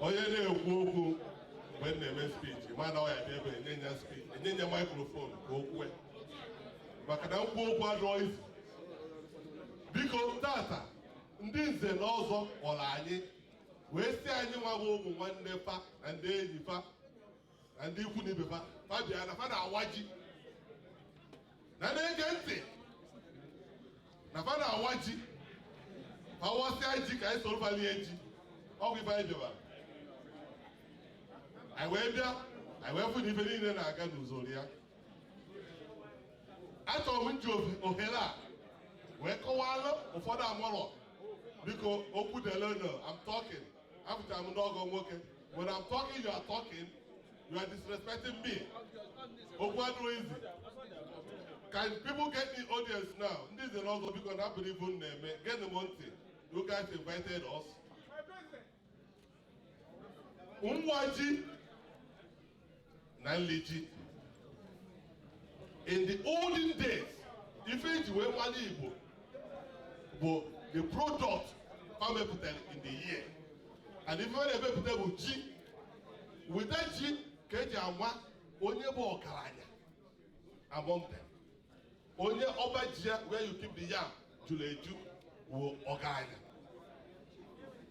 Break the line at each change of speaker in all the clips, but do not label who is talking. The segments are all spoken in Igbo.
onye na-ekwu okwu mgbe m na-eme speech ma na ọya ebe enye ya speech enye ya microphone ka o kwue maka na ikwu okwu adịrọ easy biko tata ndị nze na ọzọ kpọrọ anyị wee sị anyị nwa bụ ụmụ nwanne fa na ndị enyi fa na ndị ikwu na ibe fa bịa na fa na-awa ji na na-ege ntị na fa na-awa ji fa wasịa ji ka anyị soro fa lie ji ọ bụ ife anyị bịabara anyị wee bịa anyị wee fụ na ife niile na-aga n'usoro ya achọrọ m iji ohere a wee kọwalụ ụfọdụ amarọ biko okwu delenụ I'm talking apụtara m n'ọgọ nwoke When I'm talking, you are talking. You are disrespecting me. Okwu adịrọ easy. Can people get the audience now? Ndị nze na ọzọ because I believe unu na-eme. Get them on ntị. You guys invited us n'ịwa ji na ili ji in the olden days ife eji wee mara igbo bụ the product fa mepụtara in the year and ife a na-emepụta bụ ji weta ji ka eji ama onye bụ ọgaranya among them onye ọba ji ya where you keep the yam jụrụ eju wụ ọgaranya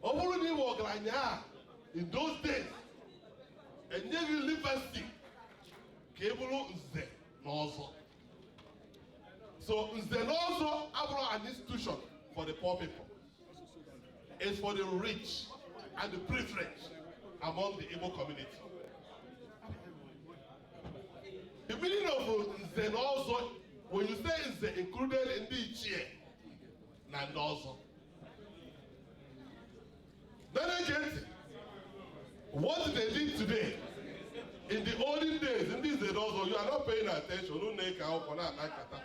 ọ bụrụ na ị bụ ọgaranya in those days e nye gị university ka ị bụrụ nze na ọzọ so nze na ọzọ abụrọ an institution for the poor people it's for the rich and the privileged among the Igbo community The meaning of nze na ọzọ when you say nze included ndị ichie na ndị ọzọ na-ege ntị what they did today in the olden days ndị nze na ọzọ you are not paying attention unu na-ekwu okwu na-akpa nkata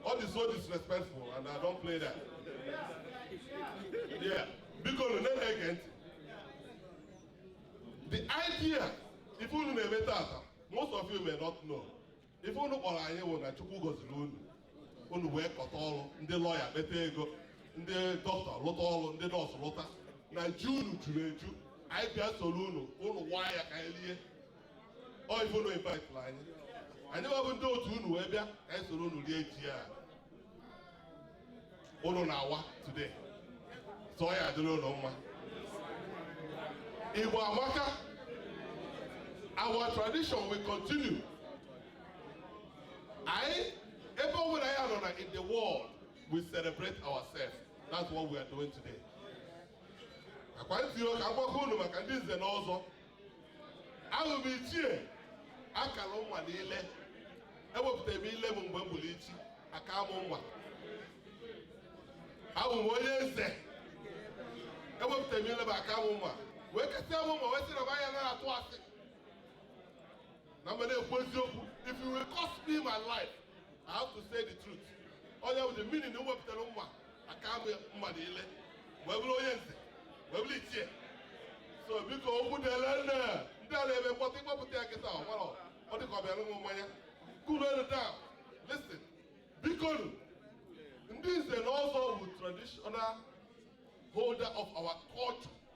all is so disrespectful and I don't play that yeah biko na-ege ntị the idea ife unu na-eme tata most of you may not know ife unu kpọrọ anyị bụ na chukwu goziri unu unu wee kọta ọrụ ndị lọya kpeta ego ndị dọkịta lụta ọrụ ndị nọọsụ lụta na ji unu juru eju anyị bịa soro unu unu waa ya ka anyị lie ọ ife unu invite anyị anyị bụ ndị otu unu wee bịa ka anyị soro unu rie ji a unu na-awa today so ọ ya adịrị unu mma Igbo amaka our tradition will continue anyị ebe ọ bụla anyị nọ na in the world we celebrate ourselves that's what we are doing today akwa ntị ka agwakọ unu maka ndị nze na ọzọ awụ m ichie akara m mma n'ile ewepụtara m ile m wee bụrụ ichie aka m mma awụ m onye nze ewepụtara m ile m aka m mma wee kasịa m mma wee sị na m anya na-atụ asị na m ga na-ekwu eziokwu if it will cost me my life I have to say the truth ọ ya bụ the meaning m wepụtara mma aka m mma n'ile wee bụrụ onye nze wee bụrụ ichie so biko okwu dịele nne ndị a na-eme mkpọtụ ịkpọpụta ya kịta ọgbara ọ dịka ọ bịara ịṅụ mmanya kunu elu down listen bikonu ndị nze na ọzọ bụ traditional holder of our culture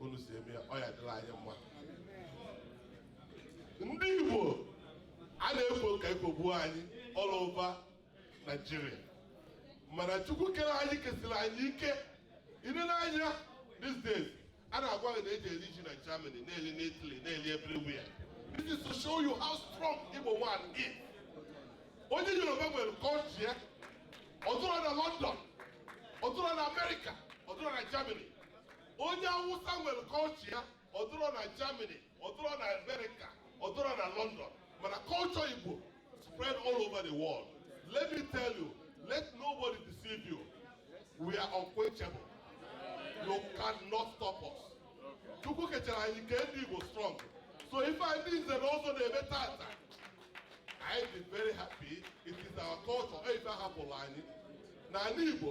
unu si eme ya ọ ya adịlị anyị mma ndị Igbo a na-ekwo ka ekwogbuo anyị all over Nigeria mana Chukwu kere anyị kesịrị anyị ike i nee anya these days a na-agwa gị na eji eli ji na Germany na-eli na Italy na-eli everywhere this is to show you how strong Igbo man is onye Yoruba nwere culture ya ọ dụrọ na London ọ dụrọ na America ọ dụrọ na Germany onye Awụsa nwere culture ya ọ dụrọ na Germany ọ dụrọ na America ọ dụrọ na London mana culture Igbo spread all over the world let me tell you let nobody deceive you we are unquenchable you cannot stop us Chukwu kechara anyị kee ndị Igbo strong so ife anyị ndị nze na ọzọ na-eme tata anyị dị very happy it is our culture ife ahapụlụ anyị na ani Igbo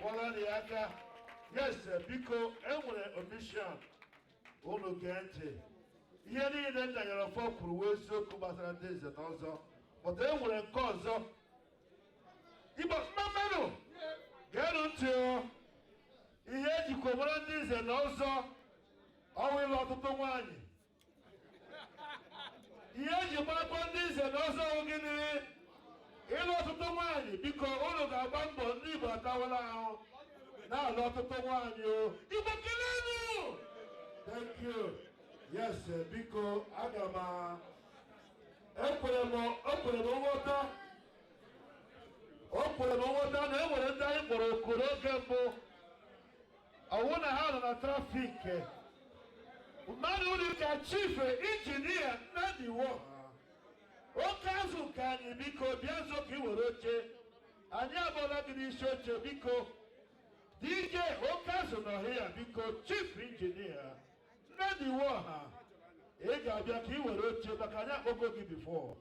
kụọrọnụ ya aka yes biko enwere omission unu gee ntị ihe niile Nnanyere Ọfọ kwuru wụ eziokwu gbasara ndị nze na ọzọ but e nwere nke ọzọ Igbo mmamanụ geenụ ntị o ihe ejikwa mara ndị nze na ọzọ ọ wụ ịlụ ọtụtụ nwaanyị ihe eji makwa ndị nze na ọzọ gịnị ịlụ ọtụtụ nwaanyị biko unu ga-agba mbọ ndị Igbo atawala ahụ na-alụ ọtụtụ nwaanyị o Igbo kelenu thank you yes eh, biko aga m ekwere m ekwere m nghọta o kwere m nghọta na e nwere ndị anyị kpọrọ oku n'oge mbụ ọ wụ na ha nọ na traffic mmadụ dị ka chief injinia nnadi iwuoha oke azụ nke anyị biko bịa nso ka ị were oche anyị akpọọla gị n'isi oche biko dj oke azụ nọ here biko chief injinia nnadi iwuoha ị ga-abịa ka ị were oche maka anyị akpọgo gị before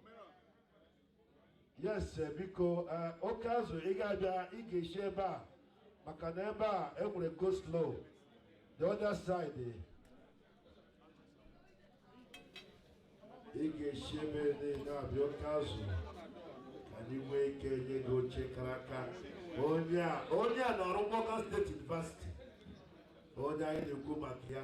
yes eh, biko eh, oke azụ ị ga-abịa ị ga-esi ebe a maka na ebe a e nwere go slow the other side eh. ị ga-esi ebe a abịa oke azụ anyị nwee ike nye gị oche kara aka onye a onye a nọrọ Morgan State University onye anyị na-ekwu maka ya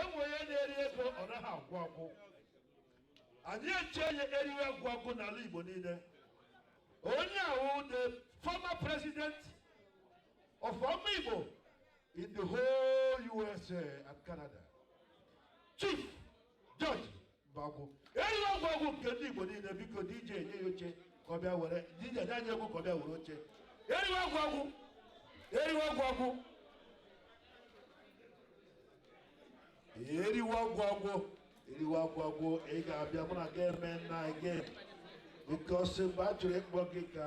enwe ya na-eri ego ọ naghị agwụ agwụ anyị echie ya eriwe agwụ agwụ n'ala Igbo niile onye a wụ the former president of Ụmụ Igbo in the whole USA and Canada chief George Mbagwu erighị ọgwụ ọgwụ nke ndị Igbo niile biko DJ enye ya oche ka ọ bịa were DJ nye anyị egwu ka ọ bịa were oche erighị ọgwụ ọgwụ erighị ọgwụ ọgwụ eriwe ọgwụ ọgwụ eriwe ọgwụ ọgwụ ị ga-abịa mụ na gị eme nna gị oke ọsị mgbe a chọrọ ịkpọ gị ka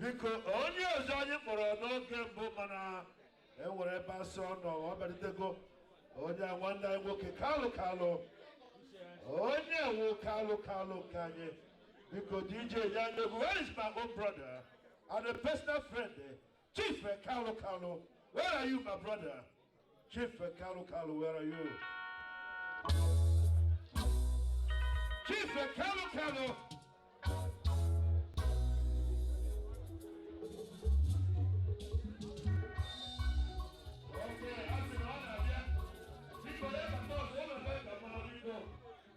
biko onye ọzọ anyị kpọrọ n'oge mbụ mana e nwere ebe a sị ọ nọ ọ bịarutego onye a nwanne anyị nwoke kalu kalu onye wụ kalu kalu nke anyị biko dj nye ya egwu where is my own brother and a personal friend Chief Kalu Kalu, where are you, my brother? Chief Kalu Kalu, where are you? Chief Kalu Kalu.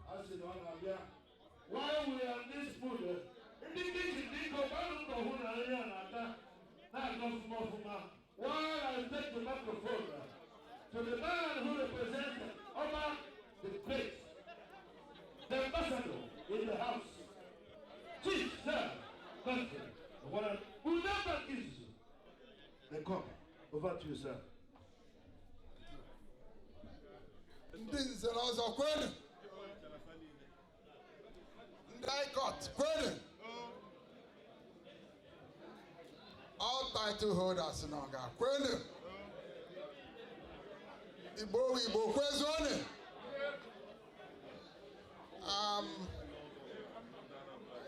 A sị na ọ na-abịa While we are in this mood, ndị kichin biko gbanụ mbọ hụ na nri a na-ata na-aga ọfụma ọfụma. While I take the microphone to the man who represents Oba the Great, the ambassador in the house, Chief Sir Godfrey Owaran Udamba Kizu. The cup, over to you, sir. ndị nze na ọzọ kwenu ndị ICOTTH kwenu all title holders nọ nga kwenu igbo wụ igbo kwezuonu um,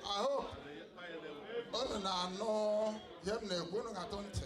I hope unu na-anụ ihe m na-ekwu unu ga-atụ ntị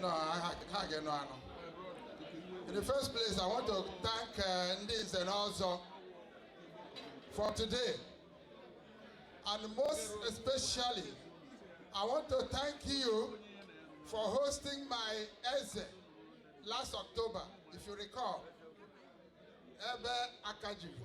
No, ha ha ga-anụ anụ. In the first place, I want to thank uh, ndị nze na ọzọ for today. And most especially, I want to thank you for hosting my Eze last October, if you recall. Ebe Akajiri.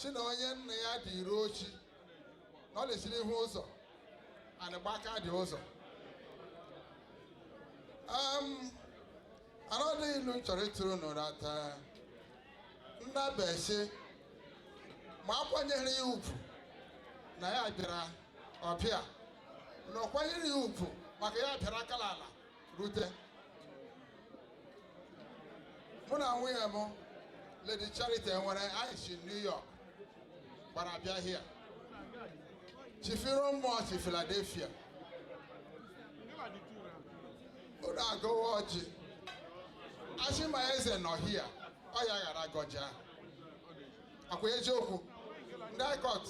sị na onye nna ya dị iru ochi na ọ na-esiri ihu ụzọ anaghị agba aka dị ụzọ anọdụ ilu m chọrọ ịtụrụ unu taa nnabe sị ma akwanyere ya ugwu na ya bịara ọbịa na ọ kwanyere ya ugwu maka ya bịara ga-ala ala rute mụ na nwunye m Lady Charity nwere anyị si New York gbara bịa here Chief Iromụọ si Philadelphia unu agọwa ọjị a sị ma eze nọ here ọ ya gaara agọ ọjị ọkwa eziokwu ndị ICOTTH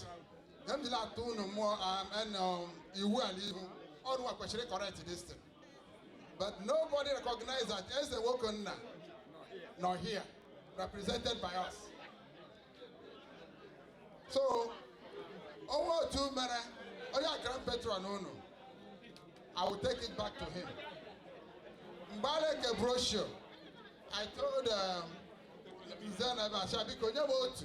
ka m jiri atụ unu mmụọ um, and, um, iwu ala ihu ọrụ a kwesịrị correct this thing but nobody recognize that Eze Nwokenna nọ here represented by us so onwe otu mere onye akara patron unu i will take it back to him mgbe a na-eke brochure i told um, nze na ebe asha biko nye m otu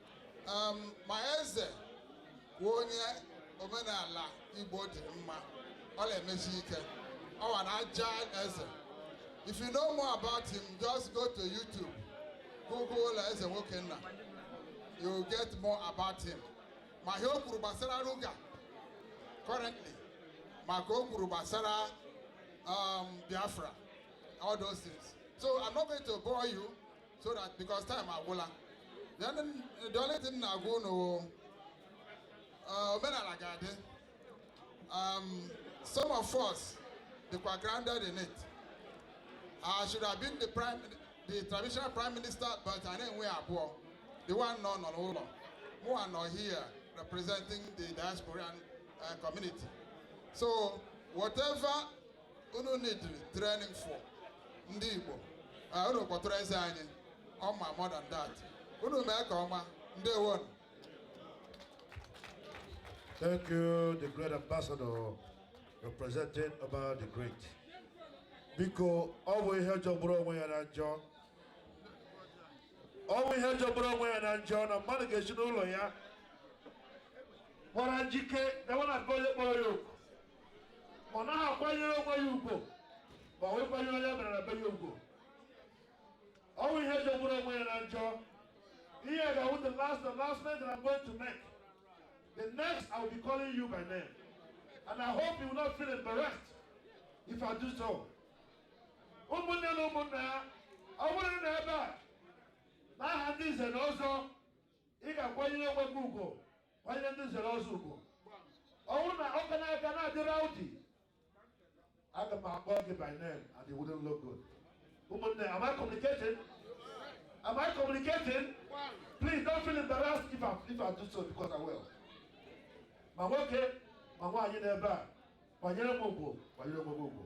um, ma eze bụ onye omenala Igbo dị mma ọ na-emesi ike ọ wa na aja eze if you know more about him just go to YouTube google Eze Nwokenna you get more about him ma ihe o kwuru gbasara Ruga currently ma nke o kwuru gbasara um, Biafra all those things so I'm not going to bore you so that because time agwụla then the only thing na-agwa unu uh, omenala ga-adị um, some of us dịkwa grounded in it I should have been the prime the traditional prime minister but a na-enwe abụọ the one nọ nọ n'ụlọ mụ nọ here representing the diaspora uh, community so whatever unu need-iri training for ndị Igbo ah, unu kpọtụrụ eze anyị ọ ma more than that unu emeka ọma ndewo Thank you, the great ambassador representing about the great. Biko, ọ bụ ihe jọgburu onwe ya na njọ. Ọ bụ ihe jọgburu onwe ya na njọ na mmadụ ga-esi n'ụlọ ya. Kpọrọ njike, na nwa na-akpọ onye kpọrọ ya oku. ọ naghị akwanyere onwe ya ugwu ma wee kwanyere onye bịara na be ya ugwu ọ bụ ihe jọgburu onwe ya na njọ ihe ga-awụ the last the last thing that I'm going to make the next I will be calling you by name and I hope you will not feel embarrassed if I do so ụmụnne na ụmụnna ya ọ bụrụ na ị bịa n'aha ndị nze na ọzọ ị ga-akwanyere onwe gị ugwu nye ndị nze na ọzọ ugwu ọ wụrụ na ọ ka na-aga na-adị rowdy aga m akpọ gị by name at the wooden logo ụmụnne am I communicating am I communicating please don't feel embarrassed if I, if I do so because I will ma nwoke ma nwaanyị n'ebe a kwanyere m ugwu kwanyere m ugwu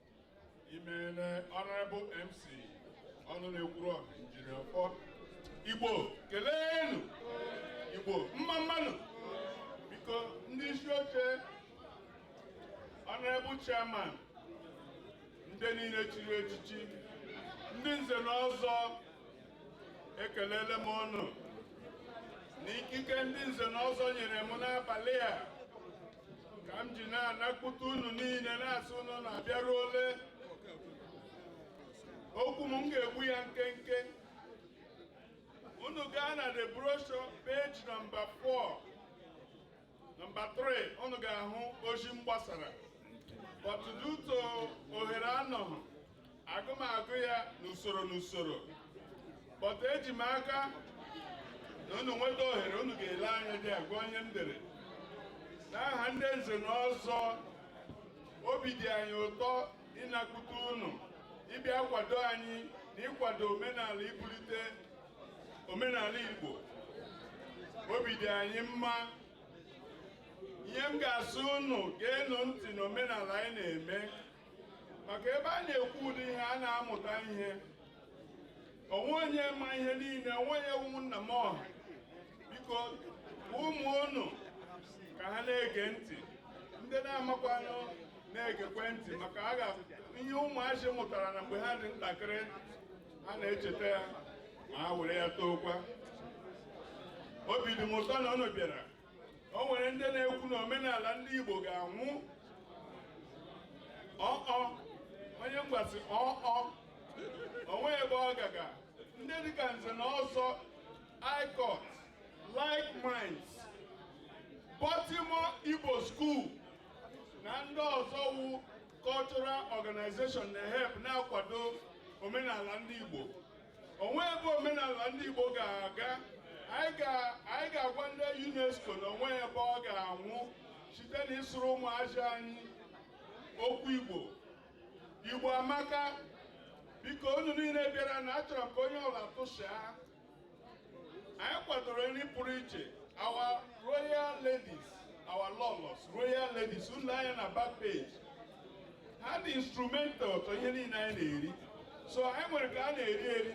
imeele Honorable MC ọnụ na-ekwuru ọha injinia ọfọ Igbo keleenụ Igbo mma mma nụ biko ndị isi oche Honorable Chairman ndị niile chiri echichi ndị nze na ọzọ ekelele m unu na ikike ndị nze na ọzọ nyere m n'abalị a ka m ji na-anakwute unu niile na-asị unu na-abịaruole okwu m ga-egbu ya nkenke unu gaa na the brochure page nọmba 4 nọmba 3 unu ga-ahụ ozi m gbasara but due to ohere anọghị agaghị m agụ ya n'usoro n'usoro but eji m aka na unu nweta ohere unu ga-ele anya gụọ ihe m dere n'aha ndị nze na ọzọ obi dị anyị ụtọ ịnakwute unu ịbịa kwado anyị na ịkwado omenala ibulite omenala Igbo obi dị anyị mma ihe m ga-asị unu geenụ ntị na omenala anyị na-eme maka ebe a na-ekwu ụdị ihe a na-amụta ihe o nwe onye ma ihe niile o nwe onye wụ nna m ọha biko ụmụ unu ka ha na-ege ntị ndị na-amakwanụ na-egekwe ntị maka a ga ihe ụmụazị mụtara na mgbe ha dị ntakịrị ha na-echeta ya ma ha were ya tookwa obi dị m ụtọ na unu bịara o nwere ndị na-ekwu na omenala ndị Igbo ga-anwụ ọọ onye mgbasi ọọ o nweghị ebe ọ ga-aga ndị dịka nze na ọzọ ICOTTH like minds Baltimore Igbo School na ndị ọzọ wụ cultural organization na-help na-akwado omenala ndị Igbo o nweghị ebe omenala ndị Igbo ga-aga anyị ga-agwa ndị UNESCO na o nweghị ebe ọ ga-anwụ site na ịsụrụ ụmụazị anyị okwu Igbo Igbo amaka biko unu niile bịara na achọrọ m ka onye ọbụla tụsịa anyị kwadoro nri pụrụ iche our royal ladies our lọlọs royal ladies unu lee anya na back page ha dị instrumental to ihe niile anyị na-eri so anyị nwere ka a na-eri eri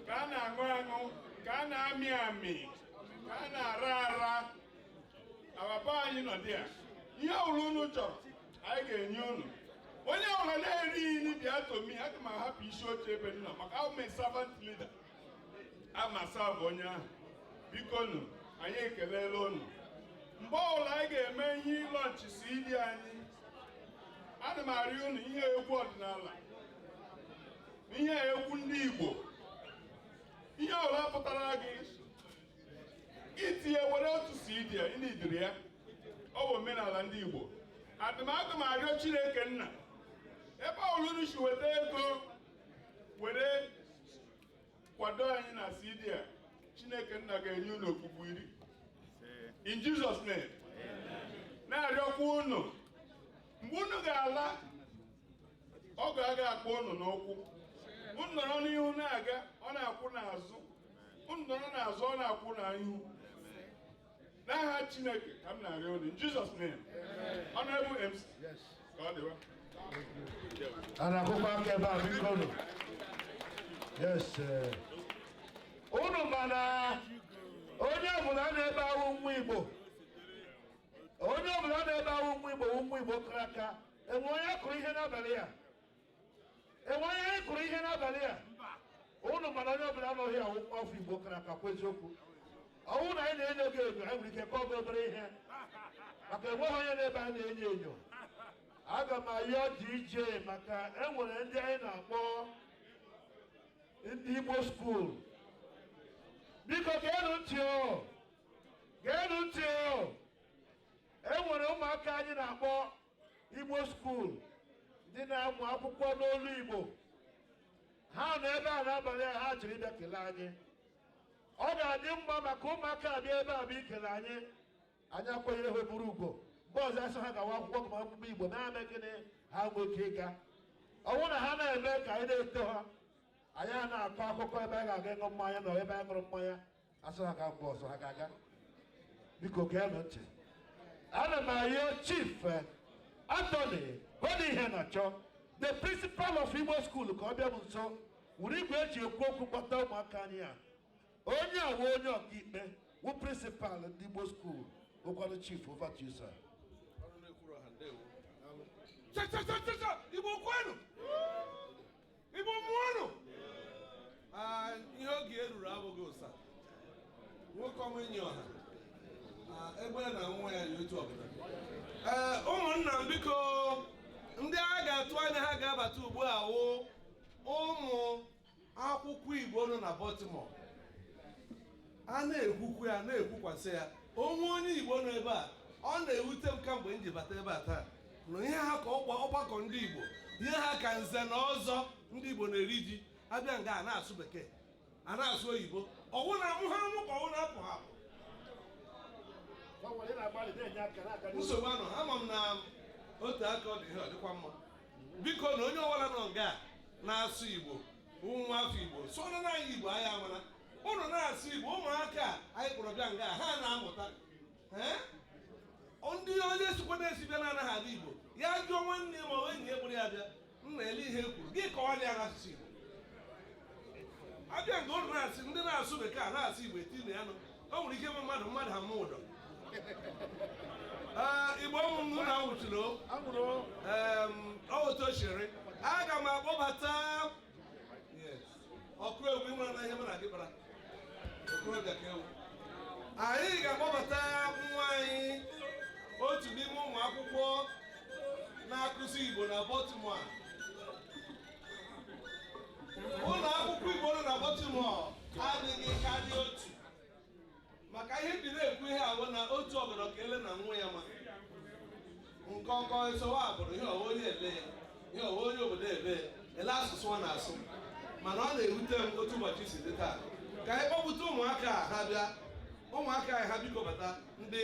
ka a na-aṅụ aṅụ ka a na-amị amị ka a na-ara ara ababa anyị nọ dị ya ihe ọbụla unu chọrọ anyị ga-enye unu onye ọbụla na-erighị nri bịa to me aga m ahapụ isi oche ebe m nọ maka awụ m servant leader amasa bụ onye ahụ bikonu anyị ekelela unu mgbe ọbụla anyị ga-eme ihe ịlaunch CD anyị ana m arịọ unu ihe egwu ọdịnala ihe egwu ndị Igbo ihe ọbụla pụtara gị i tinye were otu CD a ị needịrị ya ọ bụ omenala ndị Igbo adị m aga m arịọ Chineke nna ebe ọbụla unu si weta ego were kwado anyị na CD a Chineke nna ga-enye unu okpukpu iri in Jesus name na-arịọkwa unu mgbe unu ga-ala ọ ga-aga akpọ unu n'ụkwụ unu nọrọ n'ihu na-aga ọ na-akwụ n'azụ unu nọrọ n'azụ ọ na-akwụ n'ihu n'aha chineke ka m na-arịọ unu in Jesus name honorable MC ka ọ dịwa a na-akụkọ aka ebe a bikonu yes eh. unu ma na onye ọbụla nọ ebe a wụ nwa igbo onye ọbụla nọ ebe a wụ nwa igbo wụ nwa igbo kara aka e nwe onye kwuru ihe n'abalị a enwere ihe anyị kwuru ihe n'abalị a ụnụ ma na onye ọbụla na-awụghị nwa afọ Igbo kara aka kwuo eziokwu ọwụ na anyị na-enyo gị enyo anyị nwere ike kọọ gị obere ihe maka enweghị onye n'ebe a anyị na-enyo enyo aga m ayọ DJ maka enwere ndị anyị na-akpọ ndị Igbo skuul biko geenụ ntị o geenụ ntị o enwere ụmụaka anyị na-akpọ Igbo skuul ndị na-agụ akwụkwọ n'olu Igbo ha nọ ebe a n'abalị a ha jiri bịa kelee anyị ọ ga-adị mma maka ụmụaka abịa ebe a bụ ikele anyị anyị akwanyere ha buru ugbo mgbe ọzọ asị ha gawa akwụkwọ gụma akwụkwọ Igbo na-eme gịnị ha nwee ike ịga ọwụ na ha na-eme ka anyị na-eto ha anyị a na-akọ akụkọ ebe a ga-aga ịṅụ mmanya na ebe anyị ṅụrụ mmanya asị ha ga mgbe ọzọ ha ga-aga biko geenụ ntị ana m ayọ chief eh, Anthony Iheanacho the principal of Igbo school ka ọ bịa m nso were igwe eji ekwu okwu kpọta ụmụaka anyị a onye a wụ onye ọkaikpe wụ principal ndị Igbo school ngwanụ chief over to you sir Cha cha cha cha cha! Igbo kwenu! Igbo mụọnụ ihe oge eruru abụghị ụsa nwoke ọma enyi ọha egbe na nwa ya yi otu ọbụla ee ụmụnna m biko ndị a ga-atụ anya ha ga-abata ugbu a wụ ụmụ akwụkwọ Igbo nọ na Baltimore a na-ekwukwu ya na-ekwukwasị ya onwe onye Igbo nọ ebe a ọ na-ewute m kamgbe m ji bata ebe a taa na ihe ha ka ọgbakọ ndị Igbo ihe ha ka nze na ọzọ ndị Igbo na-eri ji abịa nga a na-asụ bekee a na-asụ oyibo ọwụ na amụ ha amụ ka ọwụ na-apụ ha apụ nsogbu anọha ama m na otu a ka ọ dị ihe ọ dịkwa mma biko na onye ọbụla nọ nga na-asụ Igbo nwa afọ Igbo sụọrọ nụ anyị Igbo anyị amara ụnụ na-asụ igbo ụmụaka anyị kpọrọ bịa nga ha na-amụta ndị onye sikwa n'ezi bịa na-anaghị abụ igbo ya jụọ nwanne ma ọ enyi ya kpọrọ ya bịa m na-ele ihe e kwuru gị kọwa ya n'asụsụ igbo abịa nke ụnụ na-asị ndị na-asụ bekee a na-asụ igbo etinye ya nụ o nwere ike ịbụ mmadụ mmadụ ha mma ụdọ igbo ụmụnna na nwụchiri o otu o aga m akpọbata okorobịa ị mara na ihe mụ na gị kpara okorobịa ka ị wụ anyị ga-akpọbata nwa anyị otu n'ime ụmụ akwụkwọ na-akụzi Igbo na Baltimore ụlọ akwụkwọ Igbo nọ na Baltimore adịghị karịa otu maka ihe m ji na-ekwu ihe a wụ na otu ọgọdọ ka ele na nwa ya ma nkọkọ esowa abụrụ ihe ọwa onye ele ya ihe ọwa onye obodo ebe ya ele asụsụ ọ na-asụ mana ọ na-ewute m otu ụbọchị si dị taa ka anyị kpọpụta ụmụaka a ha bịa ụmụaka anyị ha biko bata ndị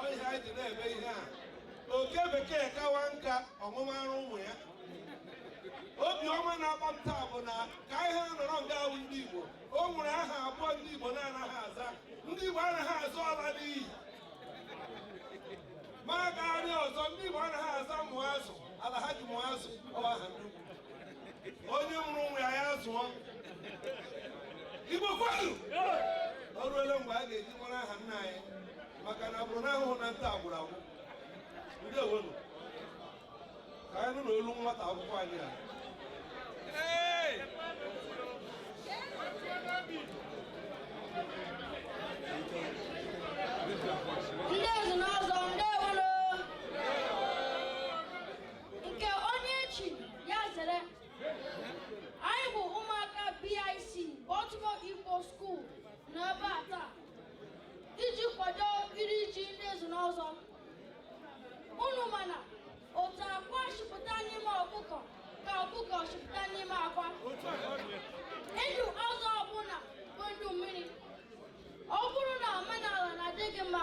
ọ ihe anyị ji na-eme ihe a oke bekee kawa nka ọ ṅụwa ara ụmụ ya obiọma na-agba m taa bụ na ka ihe a nọrọ nga ahụ ndị Igbo o nwere aha abụọ ndị Igbo na-anaghị aza ndị Igbo anaghị aza ọla n'iyi ma gagharịa ọzọ ndị Igbo anaghị aza mụọ azụ ala ha ji mụọ azụ ọ wụ aha onye mụrụ nwa ya zụọ Igbo kwenu o ruole mgbe a ga-eji mara aha nna anyị maka na ọ bụrụ na ahụhụ na nta agwụrụ agwụ ndeewonu ka anyị nụ n'olu nwata akwụkwọ anyị a Ndị nze na ọzọ, ndị nke onye echi ya zere anyị bụ ụmụaka BIC Baltimore Igbo School na ebe a taa iji kwado iri ji ndị nze na ọzọ unu ma na otu akwa si pụta n'ime ọkụkọ ka ọkụkọ si pụta n'ime akwa ndụ azụ ọbụla bụ ndụ mmiri ọ bụrụ na omenala na-adị gị mma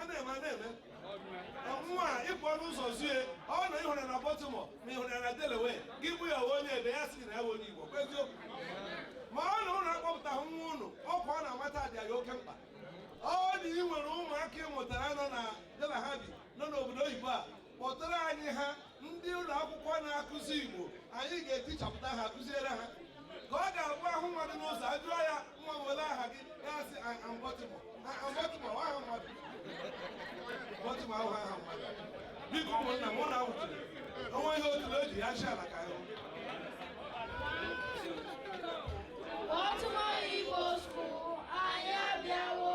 a na-eme a na-eme ọnwụnwa a ị pụọ n'ụzọ zie ọ na ị hụrụ na Baltimore ma ị hụrụ na Delaware gị jụọ ya ị wụ onye ebee ya sị na ya wụ onye Igbo kwa eziokwu mana unu akpọpụtaghị nwa unu ọkwa ọ na-amata dị anyị oke mkpa ọ dị ị nwere ụmụaka ị mụtara nọ na ya na ha bi nọ n'obodo oyibo a kpọtara anyị ha ndị ụlọ akwụkwọ na-akụzi Igbo anyị ga-etichapụta ha kụziere ha ka ọ ga-abụ a hụ mmadụ n'ụzọ a jụọ ya nwa olee aha gị ya sị aha m Baltimore aha mmadụ Baltimore ọ wụ aha mmadụ biko ụmụnna m na awụtụrụ onwe ihe otu eji ya chi ala ka ahụ Baltimore Igbo School, anyị abịa o